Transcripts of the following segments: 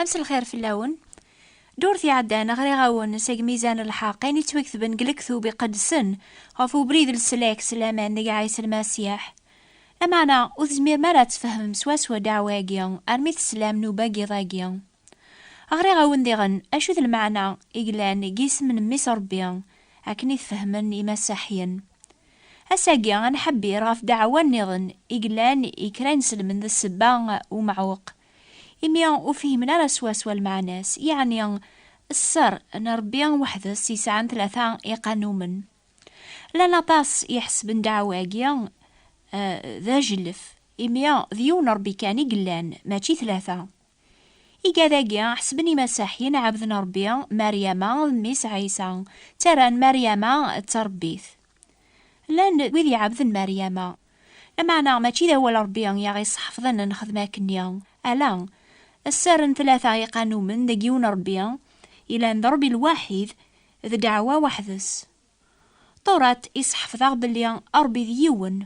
Amselxir fell-awen. Ddurt iɛeddan, ɣriɣ-awen seg Mizan Lḥeqq ayen yettwaketben deg Lektub Iqedsen ɣef ubrid n leslak s laman deg Ɛisa Lmasiḥ. Lameɛna, ur tezmirem ara ad tfehmem swaswa ddeɛwa-agi armi teslam nnuba n yiḍ-agi. Ɣriɣ-awen diɣen acu d lmeɛna i yellan deg yisem n Mmi-s n Ṛebbi, akken i t-fehmen Imasaḥiyen. Ass-agi, ad nḥebbir ɣef ddeɛwa nniḍen i yellan i kra ineslmen d ssebba n umeɛweq Imi ur fihmen ara swaswa lmeɛna-s, yeɛni sser n Rebbi weḥd-s yesɛan tlata iqanumen. Llan aṭas iḥessben ddeɛwa-agi d ajellef, imi d yiwen Rebbi kan i yellan, mačči tlata. Igad-agi ḥessben imasaḥiyen ɛebden Rebbi, Maryama d mmi-s Ɛisa, ttarran Maryama d tarebbit. Llan wid iɛebden Maryama, Lameɛna, mačči d awal Ṛebbi i aɣ-iṣeḥfḍen ad nexdem akken-nni, ala, sser n tlata i iqanumen deg yiwen Ṛebbi, yellan d Ṛebbi lwaḥid, d ddeɛwa weḥd-s. Ṭuṛat iṣeḥfḍ-aɣ belli Ṛebbi d yiwen.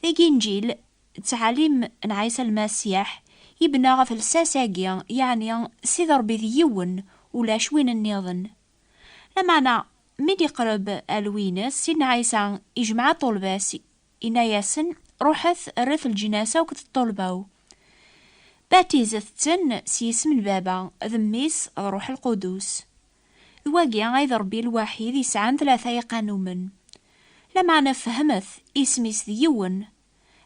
Deg Inǧil, d ttɛalim n Ɛisa Lmasiḥ, yebna ɣef lsas-agi, yeɛni Ssid Ṛebbi d yiwen, ulac win nniḍen. Lameɛna, mi d-iqreb alwi-ines, Sidna Ɛisa ijmeɛ ṭṭulba-s Inna-yasen, Ruḥet rret lǧnas akk d ṭṭulba-w, batizet-ten s yisem n Baba, d Mmi-s, d Ruḥ Lqudus. D wagi ay d Ṛebbi lwaḥid yesɛan tlata iqanumen. Lameɛna fehmet, isem-is d yiwen.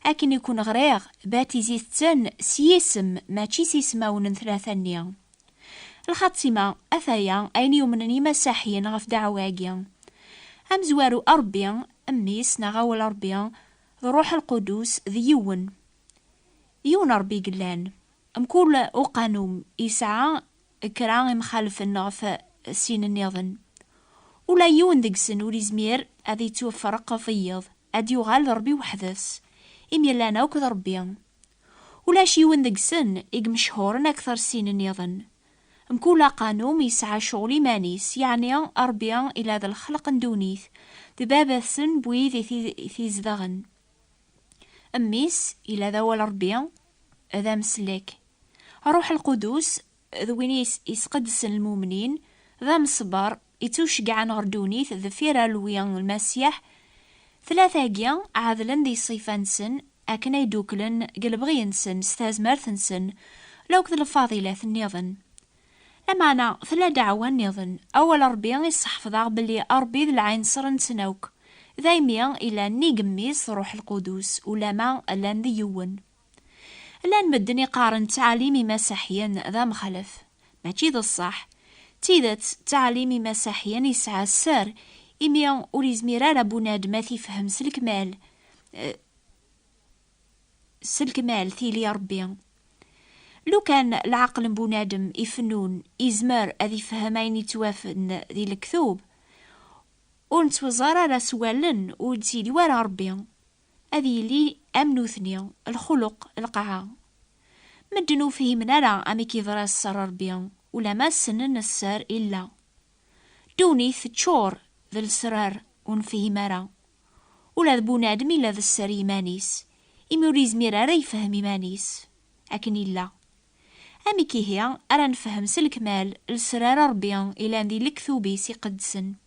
Akken i ken-ɣriɣ, batizit-ten s yisem, mačči s yismawen n tlata-nni. Lxatima, Ataya ayen yumnen yimasaḥiyen ɣef ddeɛwa-agi. Amezwaru Ṛebbi, Mmi-s neɣ Awal Ṛebbi, d Ṛṛuḥ Lqudus, d yiwen. Yiwen Ṛebbi i yellan. Mkul uqanun yesɛa kra imxalfen ɣef sin nniḍen. Ula yiwen deg-sen ur yezmir ad yettwafreq ɣef wiyeḍ, ad d-yuɣal d Ṛebbi weḥd-s, imi llan akk d Ṛebbi. Ulac yiwen deg-sen i imechhuren akter sin nniḍen. Mkul aqanun yesɛa cɣel iman-is, yeɛni Rebbi ila d lexleq n ddunit, d baba-tsen n wid i t-izedɣen. Mmi-s ila d awal Rebbi, d ameslek. Ṛṛuḥ lqudus d win i yesqeddsen lmumnin, d amesber ittuceggɛen ɣer ddunit deffir alwi n Lmasiḥ, tlata-agi ɛedlen di ṣṣifa-nsen akken ay ddukklen deg lebɣi-nsen s tazmert-nsen la akked lfadilat nniḍen. Lameɛna tella ddeɛwa nniḍen, Awal n Rebbi i sseḥfḍeɣ belli Rebbi d lɛinṣer-nsen akk, daymi yella nnig Mmi-s d Ṛuḥ Lqudus, ulamma llan d yiwen. Llan medden i qqaren ttɛalim imasaḥyen d amexlef. Mačči d ṣṣeḥ. D tidet, ttɛalim imasaḥyen yesɛa sser, imi ur yezmir ara bunadem ad t-ifhem s lekmal, s lekmal tili Rebbi. Lukan leɛqel n bunadem ifennun yezmer ad ifhem ayen yettwafen di lektub, ur nettweẓẓar ara s wallen, ur d-yili wara Rebbi. ad yili am nutni, lxuluq, lqaɛa. Medden ur fhimen ara amek yeḍra sser n Rebbi, ulamma ssnen sser Illa. Ddunit teččur d lesrar ur nefhim ara. Ula d bunadem ila d sser i yiman-is, imi ur yezmir ara yefhem iman-is, akken illa. Amek ihi ara nefhem s lekmal lesrar n Rebbi ilan di lektub-is iqedsen?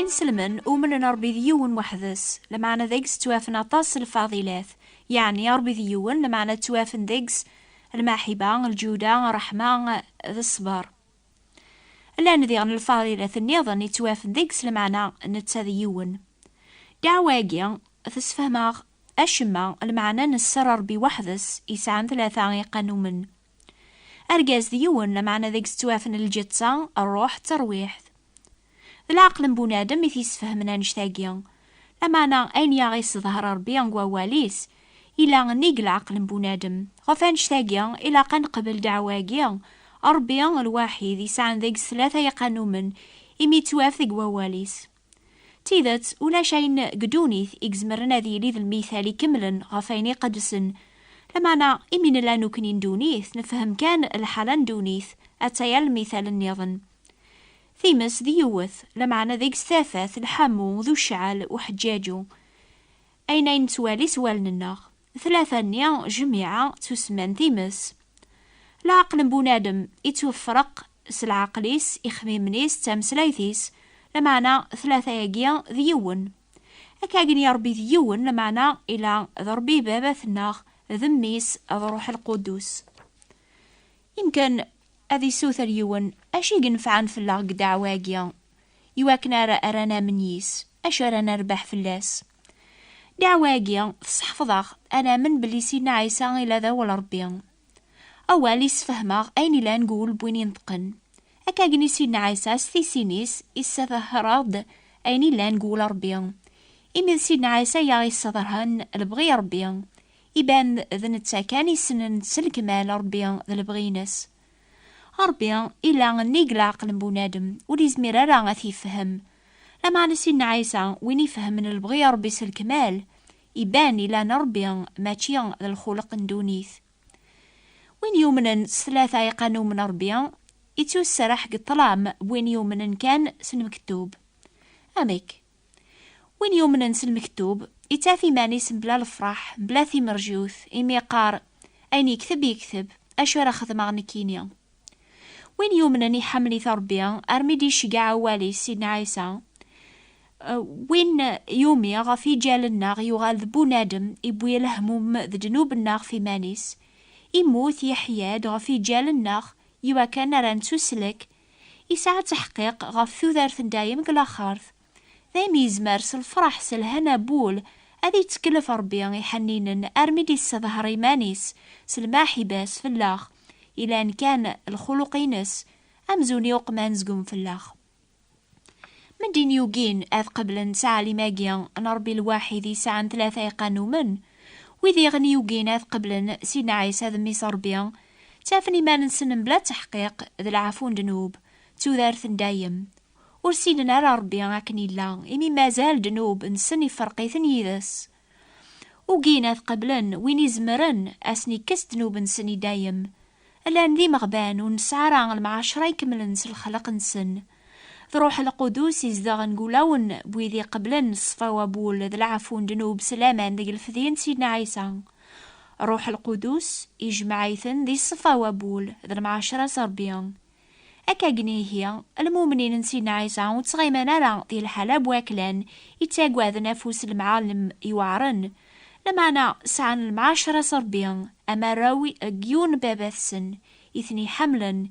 Inselmen umnen Ṛebbi d yiwen weḥd-s, lameɛna deg-s ttwafen aṭas n lfadilat, yeɛni Ṛebbi d yiwen, lameɛna ttwafen deg-s lmaḥiba, lǧuda, ṛṛeḥma d ṣṣber. Llan diɣen lfaridat nniḍen yettwafen deg s lmeɛna netta d yiwen. Ddeɛwa-agi tessefhem-aɣ acemma, lmeɛna nesser Rebbi weḥd-s yesɛan tlata iqanumen. Argaz d yiwen, lameɛna deg-s ttwafen lǧetta, ṛṛuḥ d terwiḥt. D leɛqel n bunadem i t-yesfehmen annect-agi. Lameɛna ayen i aɣ-yesseḍher Ṛebbi deg Wawal-is, yella nnig leɛqel n bunadem. Ɣef wannect-agi, ilaq ad neqbel ddeɛwa-agi, Ṛebbi, lwaḥid, yesɛan deg-s tlata yiqanumen, imi yettwaf deg Wawal-is. D tidet, ulac ayen deg ddunit i izemren ad yili d lmithal ikemlen ɣef wayen iqedsen. Lameɛna, imi nella nekkni n ddunit, nefhem kan lḥala n ddunit, atta yal lmithal nniḍen. Times d yiwet, lameɛna deg-s tafat, lḥamu, d ucɛel, uḥeǧǧaǧu. Ayen ay nettwali s wallen-nneɣ. Tlata-nni, jmiɛa, ttusemman times. Leɛqel n bunadem ittwefreq s leɛqel-is, ixmimen-is, d tameslayt-is, lameɛna tlata-agi d yiwen. Akka gen i Ṛebbi d yiwen, lameɛna ila d Ṛebbi Baba-tneɣ, d Mmi-s, d Ṛuḥ Lquddus. Imken ad isuter yiwen acu i yenfɛen fell-aɣ deg ddeɛwa-agi, i wakken ar ara namen yis, acu ara nerbeḥ fell-as. Ddeɛwa-agi tesseḥfeḍ-aɣ ad namen belli Sidna Ɛisa ila d awal Ṛebbi. Awal yessefhem-aɣ ayen ilan deg wul n win ineṭqen. Akka agni Sidna Ɛisa s tissin-is yessadhher-aɣ-d ayen ilan deg wul Ṛebbi. Imi d Sidna Ɛisa i aɣ-yessadhern lebɣi n Ṛebbi, Iban d netta kan isnen s lekmal Rebbi d lebɣi-ines. Rebbi ila nnig leɛqel n bunadem, ur yezmir ara ad t-yefhem. Lameɛna Sidna Ɛisa, win ifehmen lebɣi n Rebbi s lekmal, iban ila n Rebbi mačči d lxuleq n dunit. Win yumnen s tlata iqanum n Rebbi, ittussraḥ deg ṭṭlam n win yumnen kan s lmektub. Amek? Win yumnen s lmektub, ittaf iman-is mebla lefraḥ, mebla timerjut, imi yeqqar, Ayen yekteb, yekteb, acu ara xedmeɣ nekkini? Win yumnen iḥemmel-it Rebbi, armi d-iceggeɛ awal-is, Sidna Ɛisa, Win yumi ɣef yiǧal-nneɣ yuɣal d bunadem, iwwi lehmum d ddnub-nneɣ ɣef iman-is, immut, yeḥya-d ɣef yiǧal-nneɣ, iwakken ara nettuslek Yesɛa ttaḥqiq ɣef tudert n dayem deg laxert. Dayem yezmer s lfraḥ s lhana bul ad yettkellef Rebbi iḥenninen armi d-yessedher iman-is s lmaḥiba-s fell-aɣ, ilan kan lxuluq-ines amzun i uqman zgun fell-aɣ. Medin yugin ad qeblen ttɛalim-agi n Rebbi lwaḥid yesɛan tlata iqanumen, wid iɣen yugin ad qeblen Sidna Ɛisa d Mmi-s Rebbi Ttafen iman-nsen mebla tteḥqiq d leɛfu n ddnub, d tudert n dayem. Ur ssinen ara Ṛebbi akken yella, imi mazal ddnub-nsen ifreq-iten yid-s. Ugin ad qeblen win izemren ad asen-ikkes ddnub-nsen i dayem. Llan d imeɣban, ur nesɛi ara lemɛaceṛa ikemlen s lexleq-nsen. D Ruḥ Lqudus i izedɣen deg wulawen n wid iqeblen ṣṣfa n wawul d leɛfu n ddnub s laman deg lefdi n Sidna Ɛisa. Ruḥ Lqudus ijmeɛ-iten di ṣṣfa n wawul d lemɛacra s Rebbi. Akkagen ihi, lmumnin n Sidna Ɛisa ur ttɣiman ara di lḥala n waklan i ttagaden afus n lemɛalem yuɛren, lameɛna sɛan lemɛacra s Rebbi am arraw n yiwen n Baba-tsen i ten-iḥemmlen,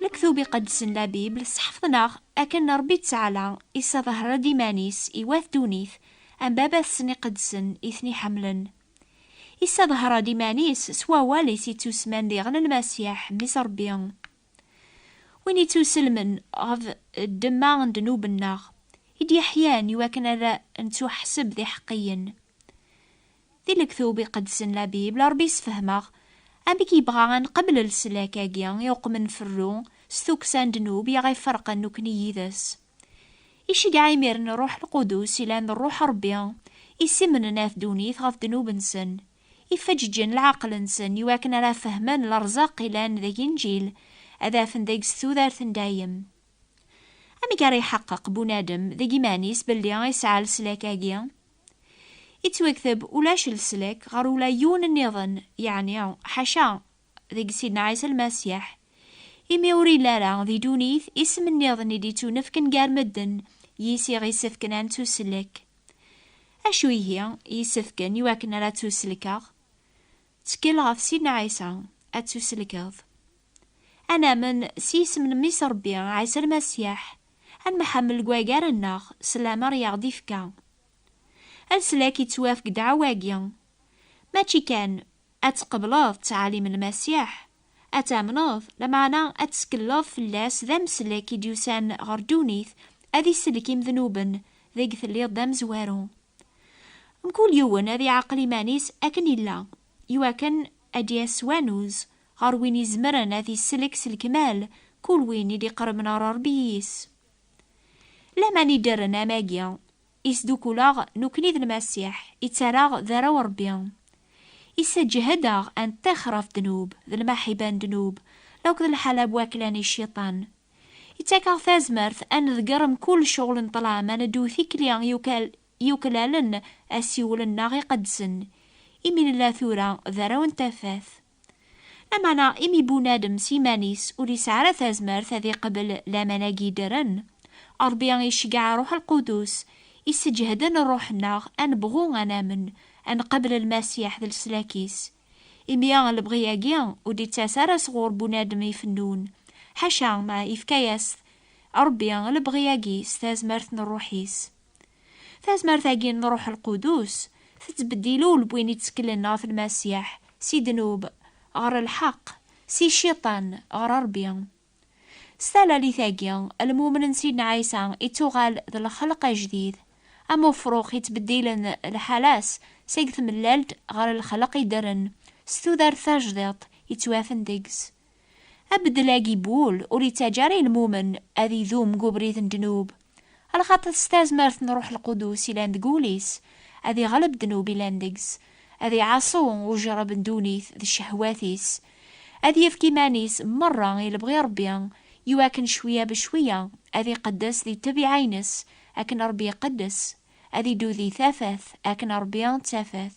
Lektub iqedsen la Bible sḥefḍen-aɣ akken Ṛebbi ţɛala isaḍehṛ-ed iman-is i wat ddunit am Baba-tsen iqedsen i ten-iḥemmlen. Isaḍehṛ-ed iman-is s wawal-is iţţusman diɣen Lmasiḥ, Mmi-s Ṛebbi. Win ittuselmen ɣef ddemma n ddnub-nneɣ, i d-yeḥyan i wakken ad nettuḥseb d iḥeqqiyen. Di Lektub Iqedsen, la Bible, Rebbi yessefhem-aɣ amek yebɣa ad nqebbel leslak-agi i uqmen n ferru s tukksa n ddnub i aɣ-iferqen nekkni yid-s. Iceggeɛ imiren Rruḥ Lqudus, yellan d Rruḥ Rebbi, isimnen at ddunit ɣef ddnub-nsen. Ifeǧǧǧen leɛqel-nsen i wakken ara fehmen lerzaq ilan deg Inǧil, ad afen deg-s tudert n dayem. Amek ara iḥeqqeq bunadem deg iman-is belli isɛa leslak-agi? Ittwekteb ulac leslak ɣer ula yiwen nniḍen, yeɛni ḥaca deg Sidna Ɛisa Lmasiḥ, imi ur yelli ara di dunit isem nniḍen i d-ittunefken gar medden yis i ɣ-isefken ad nettuselek. Acu ihi yisefken i wakken ara ttuselkeɣ? Ttkel ɣef Sidna Ɛisa, ad ttuselkeḍ. Ad namen s yisem n Mmi-s Rebbi, Ɛisa Lmasiḥ, ad nemḥammel deg wagar-nneɣ s lamer i aɣ-d-ifka. Leslak yettwaf deg ddeɛwa-agi, mačči kan Ad tqebleḍ ttɛalim n Lmasiḥ, ad tamneḍ, lameɛna ad tettkeleḍ fell-as d ameslek i d-yusan ɣer ddunit ad isellek imednuben deg telliḍ d amezwaru. Mkul yiwen ad iɛqel iman-is akken illa, iwakken ad d-yas s wanuz ɣer win izemren ad isellek s lekmal kul win i d-iqerben ɣer Rebbi yis. Laman iddren am-agi I sdukuleɣ nekni d Lmasiḥ, i ttaraɣ d arraw n Ṛebbi. I sseǧhdeɣ ad nṭixx ɣef ddnub, d lmaḥiba n ddnub, la akked lḥala n wakla n iciṭan. I ttakeɣ tazmert ad nḍegger mkul ccɣel n ṭṭlam, ad neddu tikli yuklalen asiwel-nneɣ iqedsen, imi nella tura d arraw n tafat. Lameɛna imi bunadem s yiman-is ur yesɛi ara tazmert ad iqbel laman-agi yeddren, Ṛebbi iceggeɛ Ṛuḥ Lqudus, isseǧehden ṛṛuḥ-nneɣ ad nebɣu ad namen, ad nqabel Lmasiḥ d leslak-is. Imi lebɣi-agi ur d-ittas ara sɣur bunadem ifennun, ḥaca ma yefka-yas-t Ṛebbi lebɣi-agi s tazmert n ṛṛuḥ-is. Tazmert-agi n Ruḥ Lqudus tettbeddil ulewwin itteklen ɣef Lmasiḥ si ddnub ɣer lḥeqq, si Cciṭan ɣer Rebbi. S talalit-agi, lmumen n Sidna Ɛisa ittuɣal d lxelq ajdid, am ufrux ittbeddilen lḥala-s seg tmellalt ɣer lxelq iddren s tudert tajdiṭ ittwafen deg-s. Abeddel-agi n wul ur ittaǧǧa ara i lmumen ad idum deg ubrid n ddnub, Ala xaṭi s tazmert n Ruḥ Lqudus yellan deg wul-is, ad iɣleb ddnub yellan deg-s, ad iɛaṣu ujṛeb n ddunit d cehwat-is, ad yefk iman-is meṛṛa i lebɣi Ṛebbi, iwakken cwiya becwiya ad iqeddes di ṭṭbiɛa-ines akken Ṛebbi iqeddes, ad iddu di tafat akken Ṛebbi d tafat.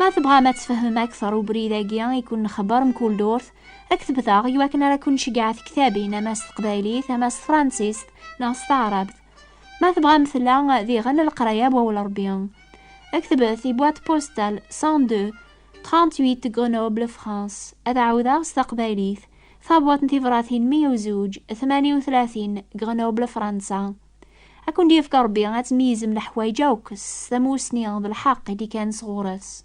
Ma tebɣam ad tfehmem akteṛ ubrid-agi i ken-nxebbeṛ mkul durt, aktebet-aɣ i wakken ara ken-nceggeɛ tektabin ama s teqbaylit, ama s tefransist neɣ s taɛrabt. Ma tebɣam tella diɣen leqraya wawal Rebbi. Ktbet i boîte postale 102 38 Grenoble, France. Ad ɛawdeɣ s taqbaylit, Tabwaṭ n tibṛatin 102 38 Grenoble, Fransa. Ad ken-d-yefk Rebbi ad tmeyyzem leḥwayeǧ akk s tamussni d lḥeqq i d-ikan sɣur-s.